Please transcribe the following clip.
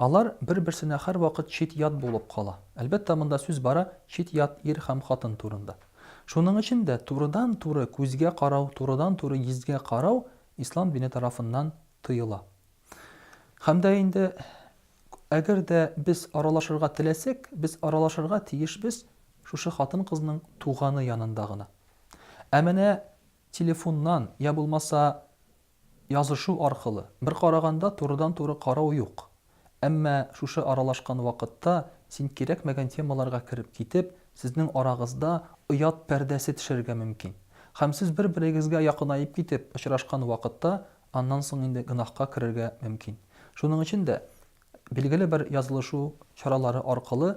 Алар бер-берсенә һәрвакыт чит-ят булып кала. Әлбәттә, монда сүз бара чит-ят ир һәм хатын турында. Шуның өчен дә турыдан-туры күзгә карау, турыдан-туры йөзгә карау Ислам дине тарафыннан тыела. Һәм дә инде, әгәр дә без аралашырга теләсәк, без аралашырга тиешбез шушы хатын-кызның туганы янында гына. Ә менә телефоннан, йә булмаса Язышу аркылы, бер караганда, турыдан-туры карау юк. Әмма шушы аралашкан вакытта син кирәкмәгән темаларга кереп китеп, сезнең арагызда оят пәрдәсе төшәргә мөмкин. Һәм сез бер-берегезгә якынаеп китеп очрашкан вакытта аннан соң инде гөнаһка керергә мөмкин. Шуның өчен дә билгеле бер язылышу чаралары аркылы